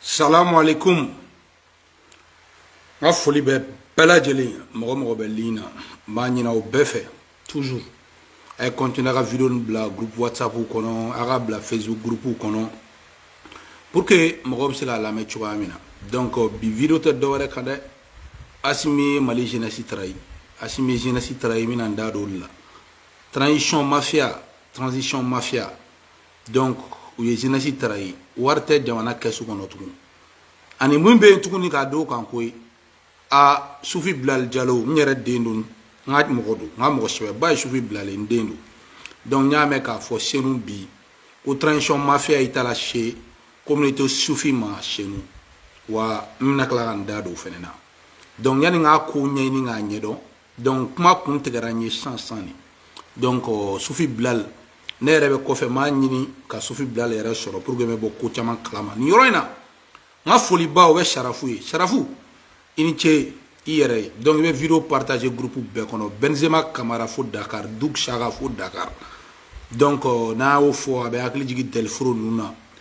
salamu alaikum n ka foli bɛ bɛɛ lajɛlen mɔgɔ mɔgɔ bɛ ligne na n b'a ɲini aw bɛɛ fɛ toujours a ye continuer a ka video nin bila groupe whatsapp kɔnɔ a ka bila facebook groupe kɔnɔ pour que mɔgɔ bɛ se k'a lamɛn cogoya min na donc bi video tɛ dɔwɛrɛ kan dɛ asimi ye mali jeunesse trahi asimi ye jeunesse trahi n bɛna n da don o de la transition mafia transition mafia donc u ye jeunesse trahi wari tɛ jamana kɛsu kɔnɔ tugun ani mun bɛ yen tuguni k'a d'o kan ko ye a sufi bilali jalo n yɛrɛ den don n ka mɔgɔ don n ka mɔgɔ sɛbɛba ye sufi bilali n den don donc n y'a mɛn k'a fɔ senu bi ko transition mafia in taara se communauté sufi ma senu wa n bɛna tila ka n da don o fana na donc yanni n k'a ko ɲɛɲini k'a ɲɛdɔn donc kuma kun tigɛra n ye sisan de donc euh, sufi bilal ne yɛrɛ bɛ kɔfɛ n b'a ɲini ka sufi bilal yɛrɛ sɔrɔ pour que n bɛ bɔ ko caman kalama nin yɔrɔ in na n ka foliba o bɛ sarafu ye sarafu i ni ce i yɛrɛ ye donc i bɛ video partager groupe bɛɛ kɔnɔ benzema kamara fo dakar duk saka fo dakar donc euh, n'a y'o fɔ a bɛ hakili jigin dɛliforo ninnu na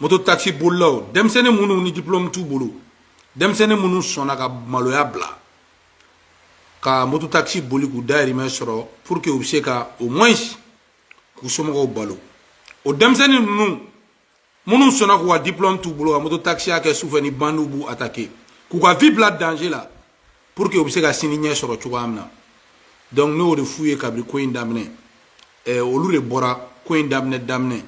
moto taxi bolilaw denmisɛnnin minnu ni diplôme t'u bolo denmisɛnnin minnu sɔnna ka maloya bila ka moto taxi boli k'u dayirimɛ sɔrɔ pour que u bɛ se ka au moins k'u somɔgɔw balo o denmisɛnnin ninnu minnu sɔnna k'u ka diplôme t'u bolo ka moto taxiya kɛ sufɛ ni bandiw b'u attaquer k'u ka vie bila danger la pour que u bɛ se ka sini ɲɛ sɔrɔ cogoya min na donc ne y'o de f'u ye kabini ko in daminɛ ɛɛ olu de bɔra ko in daminɛ daminɛ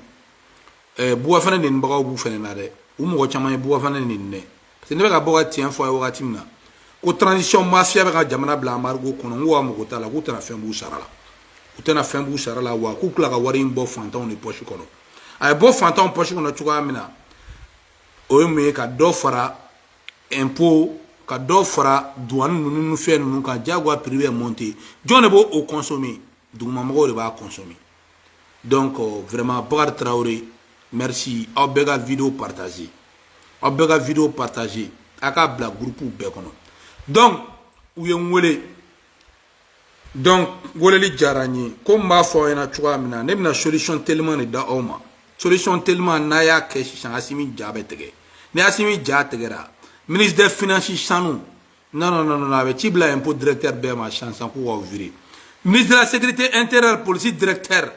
ɛɛ buba fane nenibagaw b'u fɛnɛ na dɛ u mɔgɔ caman ye buba fane neni dɛ parce que ne bɛ ka bɔ ka tiɲɛ fɔ a ye wagati min na ko transition mafia bɛ ka jamana bila embargo kɔnɔ n ko a mago t'a la k'u tɛna fɛn b'u sara la u tɛna fɛn b'u sara la wa k'u tila ka wari in bɔ fantanw de pɔsi kɔnɔ a ye bɔ fantanw pɔsi kɔnɔ cogoya min na o ye mun ye ka dɔ fara impôt ka dɔ fara duwani ninnu ni fɛn ninnu kan jagoya prix bɛ monter jɔn de b'o o consommer dugumamɔgɔw de b'a consommer donc euh, vraiment Bakari Traoré merci aw bɛɛ ka video partager aw bɛɛ ka video partager a k'a bila groupe bɛɛ kɔnɔ donc u ye n wele donc weleli diyara n ye komi n b'a fɔ aw ɲɛna cogoya min na ne bɛna solution teliman de d'aw ma solution teliman n'a y'a kɛ sisan asimi ja bɛ tigɛ ni asimi ja tigɛra ministre des finances sanu non non non non a bɛ ci bila impôt directeur bɛɛ ma sisan sisan k'u k'aw virer ministre de la sécurité intérieure polisi directeur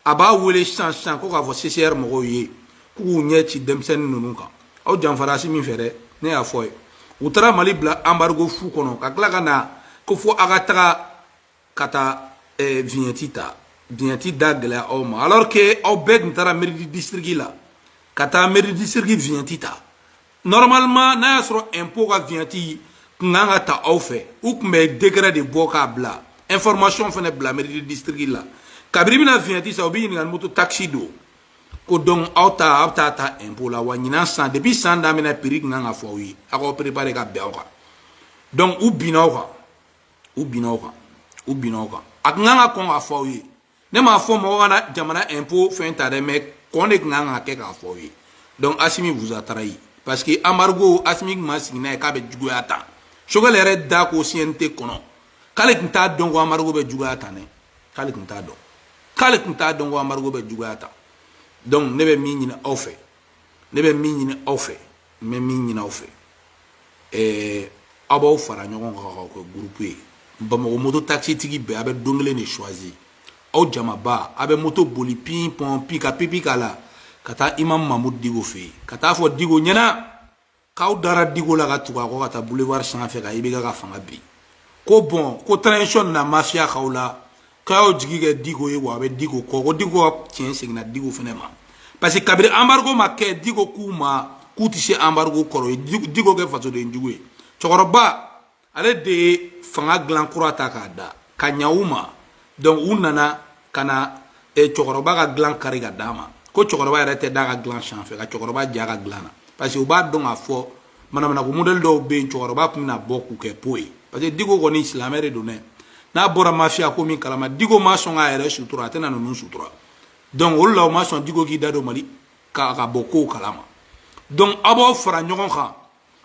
a b'a wele sisan sisan ko k'a fɔ CCR mɔgɔw ye k'u k'u ɲɛ ci denmisɛnnin ninnu kan aw janfara asimi fɛ dɛ ne y'a fɔ ye u taara Mali bila embargo fu kɔnɔ ka tila ka na ko fo a ka taga ka taa eh, vignette ta vignette da gɛlɛya aw ma alors que aw bɛɛ tun taara mairie du district la ka taa mairie du district vignette ta normalement n'a y'a sɔrɔ impôt ka vignette tun kan ka ta aw fɛ u tun bɛ décret de bɔ k'a bila information fana bila mairie de district la kabiri bɛna vignette san u bɛ ɲininka ni moto taxi don ko donc aw ta aw bɛ taa ta impôt la wa ɲinan san depuis san daminɛ prix tun kan ka fɔ aw ye aw k'aw préparer ka bɛn aw kan donc u binna aw kan u binna aw kan u binna aw kan a tun kan ka kɔn k'a fɔ aw ye ne m'a fɔ mɔgɔ kana jamana impôt fɛn ta dɛ mais kɔn de tun kan ka kɛ k'a fɔ aw ye donc asimi vous a trahi parce que embargo asimi tun ma sigi n'a ye k'a bɛ juguya tan Choguel yɛrɛ da ko cnt kɔnɔ k'ale tun t'a dɔn ko embargo bɛ juguya tan dɛ k'ale tun t'a dɔn k'ale tun t'a dɔn ko embargo bɛ juguya tan donc ne bɛ min ɲini aw fɛ ne bɛ min ɲini aw fɛ n bɛ min ɲini aw fɛ ɛɛ aw b'aw fara ɲɔgɔn kan k'aw kɛ gurupu ye bamakɔ moto takisitigi bɛɛ a bɛ don kelen de choisi aw jamaba a bɛ moto boli pin pɔn pi ka pipi k'a la ka taa imam mamudu diko fɛ yen ka taa fɔ diko ɲɛna k'aw dara diko la ka tugu a kɔ ka taa boulevard sanfɛ ka ibk ka fanga bin ko bon ko transition na mafiya k'aw la k'aw jigi kɛ diko ye wa a bɛ diko kɔ ko diko ka tiɲɛ seginna diko fana ma parce que kabiri embargo ma kɛ diko k'u ma k'u tɛ se embargo kɔrɔ u ye diko kɛ fasoden jugu ye cɛkɔrɔba ale de ye fanga dilan kura ta k'a da ka ɲa u ma donc u nana ka na eh, cɛkɔrɔba ka dilan kari ka d'a ma ko cɛkɔrɔba yɛrɛ tɛ d'a ka dilan sanfɛ ka cɛkɔrɔba ja ka dilan na parce que u b'a dɔn k'a fɔ manamana ko modèle dɔw bɛ yen cɛkɔrɔba tun bɛna bɔ k'u kɛ po ye parce que diko kɔni silamɛ de don dɛ n'a bɔra mafiya ko min kalama diko ma sɔn k'a yɛrɛ sutura a tɛna ninnu sutura donc o de la u ma sɔn diko k'i da don mali ka ka bɔ kow kalama donc aw b'aw fara ɲɔgɔn kan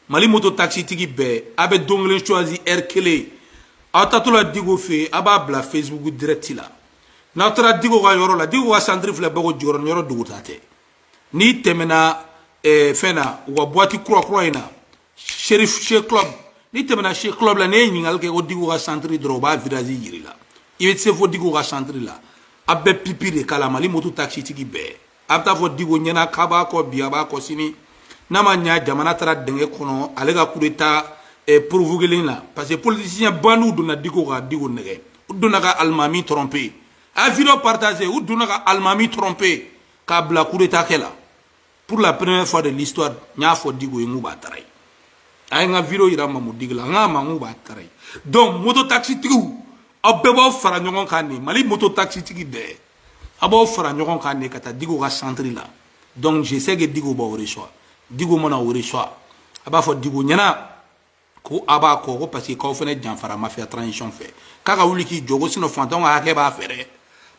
mali moto taxitigi bɛɛ a bɛ don kelen choisi heure kelen aw taatɔla diko fɛ yen a b'a bila facebook direct la n'aw taara diko ka yɔrɔ la diko ka centre filɛ bɛɛ ko jɔyɔrɔ yɔrɔ dogota tɛ n'i tɛmɛna eh, fɛn na u ka boîte kurakura in na seri she club n'i tɛmɛna she club la n'i ye ɲininkali kɛ ko diko ka centre dɔrɔn u b'a virage jira i la i bɛ se fo diko ka centre la a bɛ pipi de k'a la mali moto takisitigi bɛɛ a bɛ taa fɔ diko ɲɛna k'a b'a kɔ bi a b'a kɔ sini n'a ma ɲa jamana taara dingɛ kɔnɔ ale ka coup d'état eh, provoquélen na parce que politicien bandiw donna diko ka diko nɛgɛn u donna ka alimami tromper a vidéo partager u donna ka alimami tromper k'a bila kudeta kɛ la pour la première fois de l'histoire n y'a fɔ diko ye n k'u b'a tara ye a ye n ka video yira mamudu diko la n k'a ma n k'u b'a tara ye donc moto taxitigiw aw bɛɛ b'aw fara ɲɔgɔn kan de mali moto taxitigi bɛɛ a b'aw fara ɲɔgɔn kan de ka taa diko ka centre la donc je sais que diko b'aw reçoit diko mana aw reçoit a b'a fɔ diko ɲɛna ko a b'a kɔ ko parce que k'aw fana janfara mafia transition fɛ k'a ka wuli k'i jɔ ko sinon fantanw ka hakɛ b'a fɛ dɛ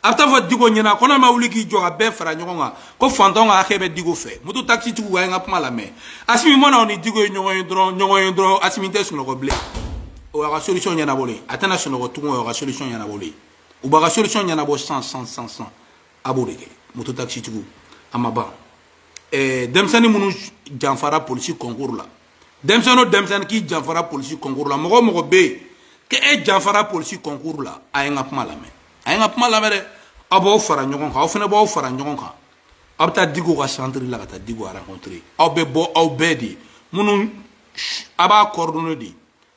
a bɛ taa fɔ diko ɲɛna ko n'a ma wuli k'i jɔ ka bɛɛ fara ɲɔgɔn kan ko fantanw ka hakɛ bɛ diko fɛ moto taxi tigiw a ye n ka kuma lamɛn asimi mana aw ni diko ye ɲɔgɔn ye dɔrɔn ɲɔgɔn ye dɔrɔn asimi tɛ sunɔgɔ bilen o y'a ka solution ɲɛnabɔlen ye a tɛna sunɔgɔ tugun o y'a ka solution ɲɛnabɔlen ye u b'a ka solution ɲɛnabɔ sisan sisan a b'o de kɛ moto taxi tigiw a ma ban ɛɛ denmisɛnnin minnu janfara polisi concours la denmisɛnnin o denmisɛnnin k'i janfara polisi concours la mɔgɔ o mɔgɔ bɛ yen ko e janfara polisi concours la a ye n ka kuma lamɛn a ye n ka kuma lamɛn dɛ aw b'aw fara ɲɔgɔn kan aw fana b'aw fara ɲɔgɔn kan aw bɛ taa Diko ka centre la ka taa Diko rencontrer aw bɛ bɔ aw bɛɛ de minnu a b'a coordonner de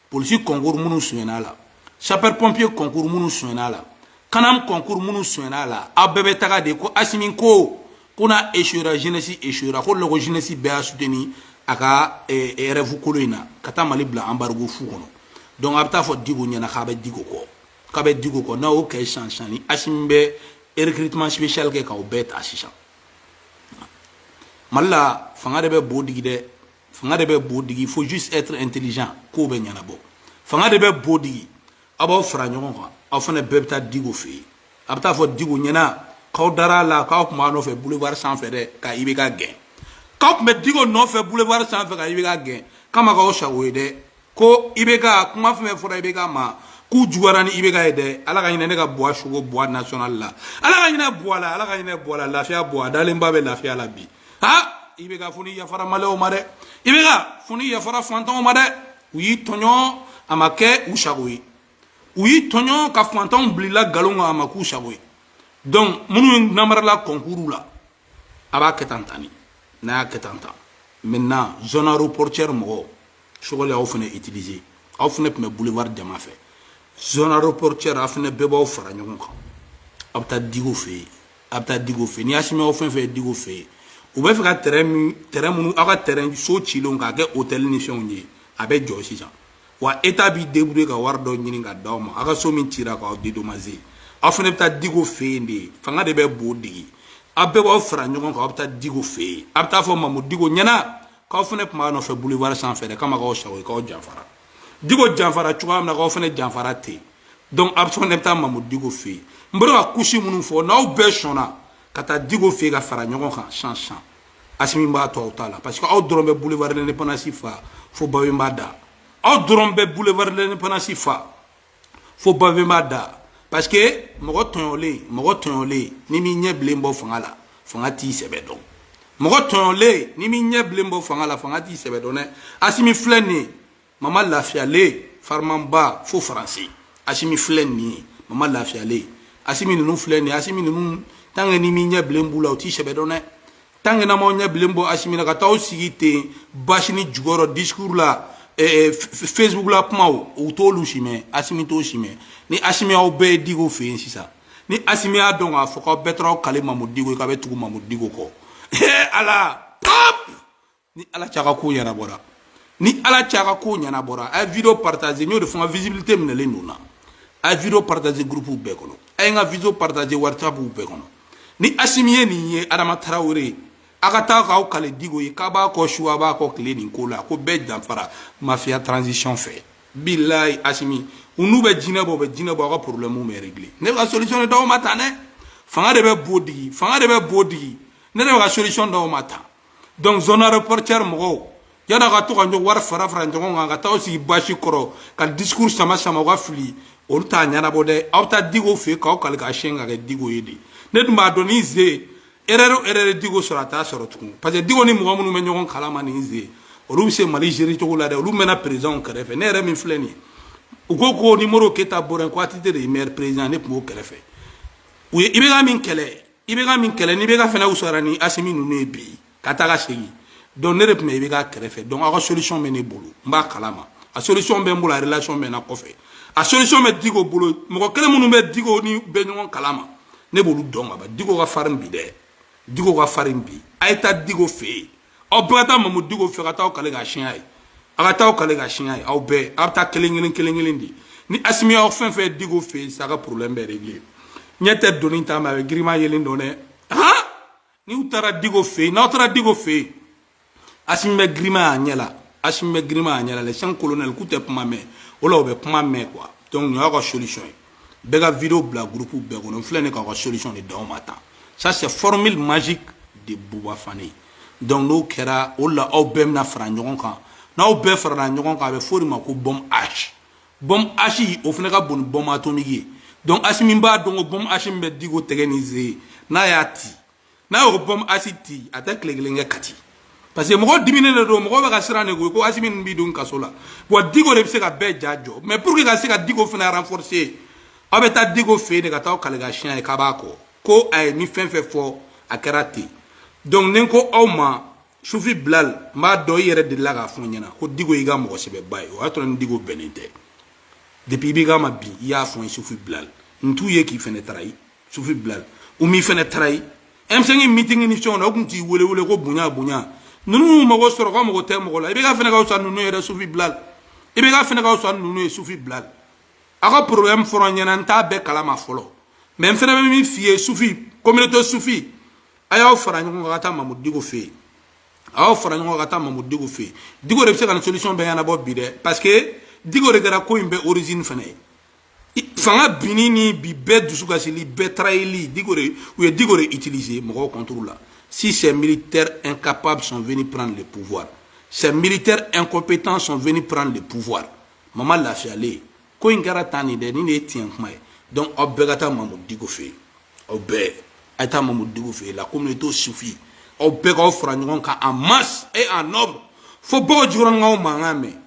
polisi kɔnkuru minnu sonyɛn'a la sapɛri pɔnpiye kɔnkuru minnu sonyɛn'a la kanam kɔnkuru minnu sonyɛn'a la aw bɛɛ bɛ taga de ko asimi ko ko n'a esuyera jenɛsi esuyera ko lɔgɔ jenɛsi bɛɛ y'a suteni a ka eh, eh, rɛvu kolon in na ka taa mali bila anbarigo fu kɔnɔ donc a bɛ taa fɔ diko ɲɛna k'a bɛ diko kɔ k'a bɛ diko kɔ n'a y'o kɛ sisan sisan ni asimi bɛ recrutement spécial kɛ k'aw bɛɛ ta sisan mali la fanga de bɛ bo digi dɛ fanga de bɛ bo digi il faut juste être intelligent k'o bɛ ɲɛnabɔ fanga de bɛ bo digi aw b'aw fara ɲɔgɔn kan aw fana bɛɛ bɛ taa diko fɛ yen a bɛ taa fɔ diko ɲɛna k'aw dara a la k'aw tun b'a nɔfɛ boulevard sanfɛ dɛ ka ibk gɛn k'aw tun bɛ diko nɔfɛ boulevard sanfɛ ka ibk gɛn k'a ma k'aw sago ye dɛ ko ibk kuma fɛn fɛn fɔra ibk ma k'u juguyara ni ibk ye dɛ ala ka hinɛ ne ka buwa sugo buwa national la ala ka hinɛ buwa la ala ka hinɛ buwa la lafiya buwa dalenba bɛ lafiya la bi ha ibk fo n'i yafara maliyɛnw ma dɛ ibk fo n'i yafara fantanw ma dɛ u y'i tɔɲɔ a ma kɛ u sago ye u y'i tɔɲɔ ka fantanw bilila nkalon kan a ma k'u sago ye donc minnu namarala kɔnkuru la a b'a kɛ tan tan de n'a y'a kɛ tan tan maintenant zone aéroportuaire mɔgɔw Choguel y'aw fana utiliser aw fana tun bɛ boulevard jama fɛ zone aéroportuaire aw fana bɛɛ b'aw fara ɲɔgɔn kan aw bɛ taa Diko fɛ yen aw bɛ taa Diko fɛ yen ni Asimi aw fɛn fɛn ye Diko fɛ yen u bɛ fɛ ka terrain min terrain minnu aw ka terrain so cilenw k'a kɛ hôtel ni fɛnw ye a bɛ jɔ sisan wa état b'i débrouiller ka wari dɔ ɲini ka d'aw ma aw ka so min cira k'aw dédommager aw fana bɛ taa diko fɛ yen de fanga de bɛ bo digi aw bɛɛ b'aw fara ɲɔgɔn kan aw bɛ taa diko fɛ yen aw bɛ taa fɔ mamu diko ɲɛna k'aw fana tun b'a nɔfɛ boulevard sanfɛ dɛ k'a ma k'aw sago ye k'aw janfara diko janfara cogoya min na k'aw fana janfara ten donc aw fana bɛ taa mamu diko fɛ yen n bɛ ka couche minnu fɔ n'aw bɛɛ sɔnna ka taa diko fɛ yen ka fara ɲɔgɔn kan sisan sisan asimi b'a to aw ta la parce que aw dɔrɔn bɛ boulevard l'indépendance fa fo babemba da aw dɔrɔn bɛ boulevard l'indépendance fa fo babemba da parce que mɔgɔ tɔɲɔlen mɔgɔ tɔɲɔlen n'i m'i ɲɛ bilen bɔ fanga la fanga t'i sɛbɛ dɔn mɔgɔ tɔɲɔlen n'i m'i ɲɛ bilen bɔ fanga la fanga t'i sɛbɛ dɔn dɛ asimi filɛ nin ye mama lafiyalen farimanba fo faransi asimi filɛ nin ye mama lafiyalen asimi ninnu filɛ nin ye asimi ninnu tant que n'i m'i ɲɛ bilen b'u la u t'i sɛbɛ dɔn dɛ tant que n'aw m'aw ɲɛ bilen bɔ asimi na ka taa aw sigi ten basinin jukɔrɔ discours la eh, eh, facebook la kumaw u t'olu si mɛn asimi t'o si mɛn ni asimi aw bɛɛ ye diko fɛ yen sisan ni asimi y'a dɔn k'a fɔ k'aw bɛɛ taara aw kali mamu diko ye k'aw bɛ tugu mamu diko kɔ ala hop ni ala cɛ aw ka ko ɲɛnabɔra ni ala cɛ aw ka ko ɲɛnabɔra a ye vidéo partager n y'o de fɔ n ka visibilité minɛlen don na a ye vidéo partager groupe bɛɛ kɔnɔ a ye n ka vidéo partager whatsapp bɛɛ kɔnɔ ni asimi ye nin ye adama tarawele ye a ka taa k'aw kali diko ye k'aw b'a kɔ su aw b'a kɔ tile nin ko la k'aw bɛɛ janfara mafia transition fɛ bilayi asimi ninnu bɛ jinɛ bɔ u bɛ jinɛ bɔ aw ka problème bɛ régler ne bɛ ka solution de d'aw ma tan dɛ fanga de bɛ bo digi fanga de bɛ bo digi ne de bɛ ka solution d'aw ma tan donc zone aéroportuaire mɔgɔw yann'a ka to ka ɲɔgɔn wari fara fara ɲɔgɔn kan ka taa aw sigi basi kɔrɔ ka discours sama sama u ka fili olu t'a ɲɛnabɔ dɛ aw taa diko fɛ k'aw kali ka siyɛn ka kɛ diko ye de ne dun b'a dɔn ni ze erreur o erreur diko sɔrɔ a t'a sɔrɔ tugun parce que diko ni mɔgɔ minnu bɛ ɲɔgɔn kalama ni ze olu bɛ se mali gérer cogo la dɛ olu mɛnna présidentw kɛrɛfɛ ne yɛrɛ min filɛ nin ye u ko ko ni modibo keyita bɔra ko atete de ye meilleur président ne tun b'o kɛrɛfɛ u ye ibeka min kɛlɛ ibeka min kɛlɛ ni ibeka fana wusara ni asimi ninnu ye bi ka taa ka segin donc ne yɛrɛ tun bɛ ibeka kɛrɛfɛ donc aw ka solution bɛ ne bolo n b'a kalama a solution bɛ n bolo a relation bɛ n na kɔfɛ a solution bɛ diko bolo mɔgɔ kelen minnu bɛ diko ni bɛ ɲɔgɔn kalama ne b'olu dɔn ka ban diko ka farin bi dɛ diko ka farin bi a ye taa diko fɛ yen aw bɛɛ ka taa mamu diko fɛ ka taa aw kali ka siyɛn a ye aw ka taa aw kali ka siyɛn a ye aw bɛɛ aw bɛ taa kelen kelen kelen kelen de ni asimi aw fɛn fɛn diko fɛ yen sa aw ka problème bɛ régler ɲɛ tɛ doni ta mais a bɛ girinman yelen dɔn dɛ han n'u taara diko fɛ yen n'aw taara diko fɛ yen asimi bɛ girinman y'a ɲɛ la asimi bɛ girinman y'a ɲɛ la les cinq colonels k'u tɛ kuma mɛn o la u bɛ kuma mɛn quoi donc nin y'aw ka solution ye bɛɛ ka video bila groupe bɛɛ kɔnɔ n filɛ nin k'aw ka solution de d'aw ma tan ça c'est formule magique de Bouba Fane donc n'o kɛra o la aw bɛɛ bɛna fara ɲɔgɔn kan n'aw bɛɛ farala ɲɔgɔn kan a bɛ f'o de ma ko bombe H bombe H o fana ka bon ni bombe atomique ye donc Asimi b'a dɔn ko bombe H min bɛ diko tɛgɛ ni ze n'a y'a ci n'a y'o bombe H ci a tɛ tile kelen kɛ kati parce que mɔgɔ diminen de don mɔgɔ bɛ ka siran de koyi ko asimi b'i don kaso la wa diko de bɛ se ka bɛɛ ja jɔ mais pour que ka se ka diko fana renforcer aw bɛ taa diko fɛ yen de ka taa aw kali ka siɲɛ ye k'aw b'a kɔ ko a ye ni fɛn fɛn fɔ a kɛra ten donc ne ko aw ma sufi bilal n b'a dɔn i yɛrɛ delila k'a fɔ n ɲɛna ko diko y'i ka mɔgɔ sɛbɛba ye o y'a sɔrɔ ni diko bɛnnen tɛ depuis IBK ma bin i y'a fɔ n ye sufi bilal n t'u ye k'i fɛnɛ trahir sufi bilal u m'i fɛnɛ trahir M5 meeting ni fɛnw na u tun t'i wele wele ko bonya bonya ninnu mago sɔrɔ kɔ mago tɛ mɔgɔ la IBK fɛnɛ ka fisa ninnu yɛrɛ sufi bilal IBK fɛnɛ ka fisa ninnu ye sufi bilal a ka problème fɔra n ɲɛna n t'a bɛɛ kalama fɔlɔ mais n fɛnɛ bɛ min f'i ye sufi communauté sufi a y'aw fara ɲɔgɔn kan ka taa mamudu diko fɛ yen a y'aw fara ɲɔgɔn kan ka taa mamudu diko fɛ yen diko de bɛ se ka nin solution bɛɛ ɲɛnabɔ bi dɛ parce que diko de kɛra ko in bɛɛ origine fɛnɛ ye fanga binni ni bi bɛɛ dusu kasili bɛɛ tarayeli diko de u ye diko de utiliser mɔgɔw contre la si ces militaires incapables sont venus prendre le pouvoir ces militaires incompétents sont venus prendre le pouvoir mama lafiyalen ko in kɛra tan nin dɛ nin de ye tiɲɛ kuma ye donc aw bɛɛ ka taa mamu diko fɛ yen aw bɛɛ a ye taa mamu diko fɛ yen la communauté sufi aw bɛɛ k'aw fara ɲɔgɔn kan en masse et en nombre fo bakɔ jikɔrɔnin k'aw mankan mɛn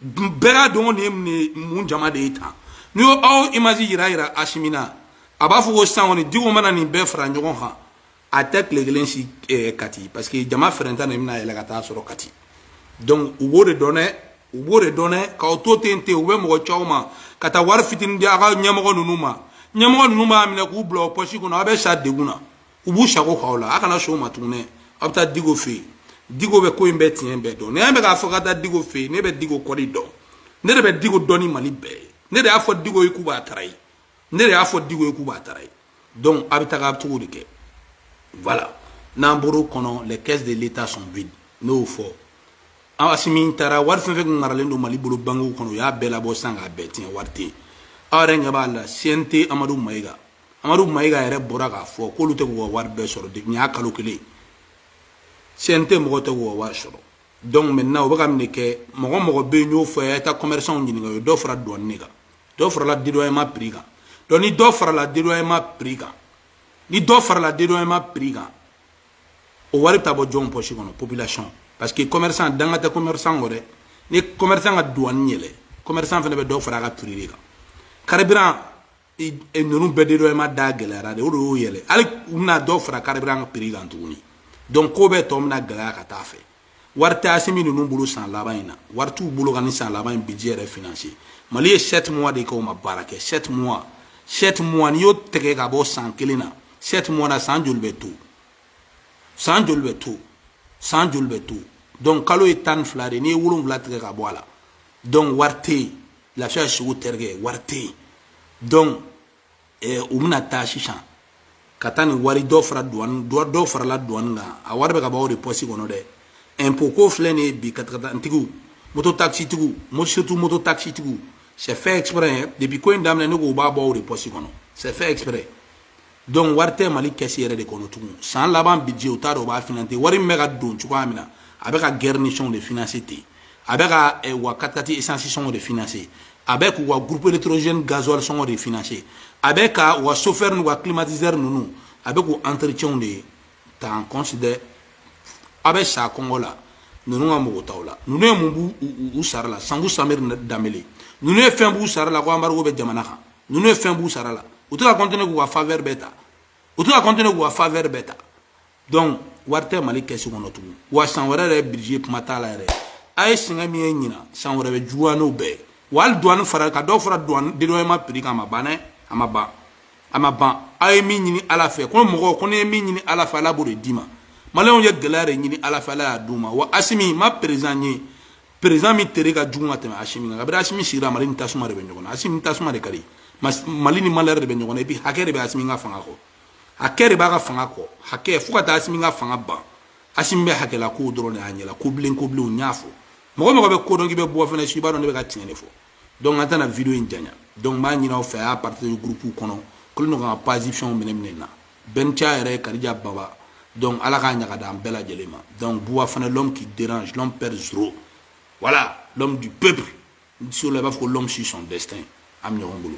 bɛɛ k'a dɔn ko nin ye mun jama de ye tan n'i y'o image yira yira asimi na a b'a fɔ ko sisan kɔni diko mana nin bɛɛ fara ɲɔgɔn kan a tɛ tile kelen si kɛ kati parce que jama fɛrɛnta de bɛna yɛlɛ ka t'a sɔrɔ kati donc u b'o de dɔn dɛ u b'o de dɔn dɛ k'aw to ten ten u bɛ mɔgɔ c'aw ma ka taa wari fitini di aw ka ɲɛmɔgɔ ninnu ma ɲɛmɔgɔ ninnu b'a minɛ k'o bila u pɔsi kɔnɔ aw bɛ sa degun na u b'u sago k'aw la a kana sɔn o ma tuguni aw bɛ taa diko fɛ yen diko bɛ ko in bɛɛ tiɲɛ bɛɛ dɔn ne bɛ k'a fɔ ka taa diko fɛ yen ne bɛ diko kɔli dɔn ne de bɛ diko dɔn ni mali bɛɛ ye ne de y'a fɔ diko ye k'u b'a trahir ne de y'a fɔ diko ye k'u b'a trahir donc a bɛ taga cogo de kɛ voilà n'an bɔr'o kɔnɔ les caisses de l'état sont vides ne y'o fɔ an asimi taara wari fɛn fɛn tun maralen don mali bolo bankiw kɔnɔ u y'a bɛɛ labɔ sisan k'a bɛɛ tiɲɛ wari tɛ yen aw yɛrɛ ɲɛ b'a la cnt amadu mayiga amadu mayiga yɛrɛ bɔra k'a fɔ k'olu tɛ k'u ka wari bɛɛ sɔrɔ depuis y'a kalo kelen cnt mɔgɔ tɛ k'u ka wari sɔrɔ donc maintenant u bɛ ka nin de kɛ mɔgɔ mɔgɔ bɛ yen y'o fɔ a ye taa commerçant ɲininka u ye dɔ fara douane de kan dɔ farala dédouanement prix kan donc ni dɔ farala dédouanement prix kan ni dɔ farala dédouanement prix kan o wari bɛ taa bɔ jɔnw poche kɔnɔ population parce que commerçant danga tɛ commerçant kɔ dɛ ni commerçant ka douane yɛlɛ commerçant fana bɛ dɔ fara a ka prix de kan carburant e ninnu bɛɛ de dɔ e ma da gɛlɛyara de o de y'o yɛlɛ hali u bɛna dɔw fara carburant prix kan tuguni donc ko bɛɛ tɔ bɛna gɛlɛya ka taa fɛ wari tɛ asimi ninnu bolo san laban in na wari t'u bolo ka nin san laban in budget yɛrɛ finanse mali ye sept mois de kɛ o ma baara kɛ sept mois sept mois n'i y'o tɛgɛ ka bɔ san kelen na sept mois na san joli bɛ to san joli bɛ to san joli bɛ to donc kalo ye tan ni fila de n'i ye wolonwula tigɛ ka bɔ a la donc wari tɛ yen lafiya sugu terikɛ wari tɛ yen donc eh, u bɛna taa sisan ka taa nin wari dɔ fara duwani dɔ farala duwani kan a wari bɛ ka bɔ aw de pɔsi kɔnɔ dɛ impôt ko filɛ nin ye bi katakatanintigiw moto taxitigiw surtout moto taxitigiw c'est fait exprès depuis ko in daminɛ ne ko u b'a bɔ aw de pɔsi kɔnɔ c'est fait exprès donc wari tɛ mali kɛsi yɛrɛ de kɔnɔ tugun san laban budget u t'a dɔn u b'a finance wari min bɛ ka don cogoya min na a bɛ ka garnisonw de finance ten a bɛ ka eh, u ka katikati esansi sɔngɔ de finance a bɛ k'u ka groupe électrogène gasoil sɔngɔ de finance a bɛ ka u ka chauffeur n'u ka climatiseur ninnu a bɛ k'u entretienw de ta en considère aw bɛ sa kɔngɔ la ninnu mago t'aw la ninnu ye mun bɔ u sara la sanku samiri danbele ninnu ye fɛn b'u sara la ko anbarigo bɛ jamana kan ninnu ye fɛn b'u sara la u tɛ ka continuer k'u ka favɛri bɛɛ ta u tɛ ka continuer k'u ka favɛri bɛɛ ta donc wari tɛ mali kɛsi kɔnɔ tugun wa san wɛrɛ yɛrɛ budget kuma t'a la yɛrɛ aw ye sɛgɛn min ye ɲinan san wɛrɛ bɛ juguya n'o bɛɛ ye wa hali duwani fara ka dɔ fara duwani dédouanement prix kan a ma ban dɛ a ma ban a ma ban aw ye min ɲini ala fɛ ko mɔgɔw ko n'i ye min ɲini ala fɛ ala b'o de d'i ma maliyɛnw ye gɛlɛya de ɲini ala fɛ ala y'a d'u ma wa asimi ma perezidan ye perezidan min tere ka jugu ka tɛmɛ asimi kan kabiri asimi sigira mali ni tasuma de bɛ ɲɔgɔn na asimi tasuma de ka di mali ni malɛri de bɛ ɲɔgɔn na epi hakɛ de bɛ asimi ka fanga kɔ hakɛ de b'a ka fanga kɔ hakɛ fo ka taa asimi ka fanga ban asimi bɛ hakɛla kow dɔrɔn de y'a ɲɛla ko bilen ko bilenw n y'a fɔ mɔgɔ mɔgɔ bɛ ko dɔn k'i bɛ bɔ fɛnɛ si b'a dɔn ne bɛ ka tiɲɛ de fɔ donc an tɛna video in janya donc n b'a ɲini aw fɛ a y'a partage groupe kɔnɔ kolo ɲɔgɔn ka page fɛnw minɛ minɛ na Bencha yɛrɛ Karija Baba donc Ala k'a ɲa k'a d'an bɛɛ lajɛlen ma donc Buwa fana l'homme qui dérange l'homme peur zéro voilà l'homme du peuple n tɛ se o la i b'a fɔ ko l'homme suit son destin an bɛ ɲɔgɔn bolo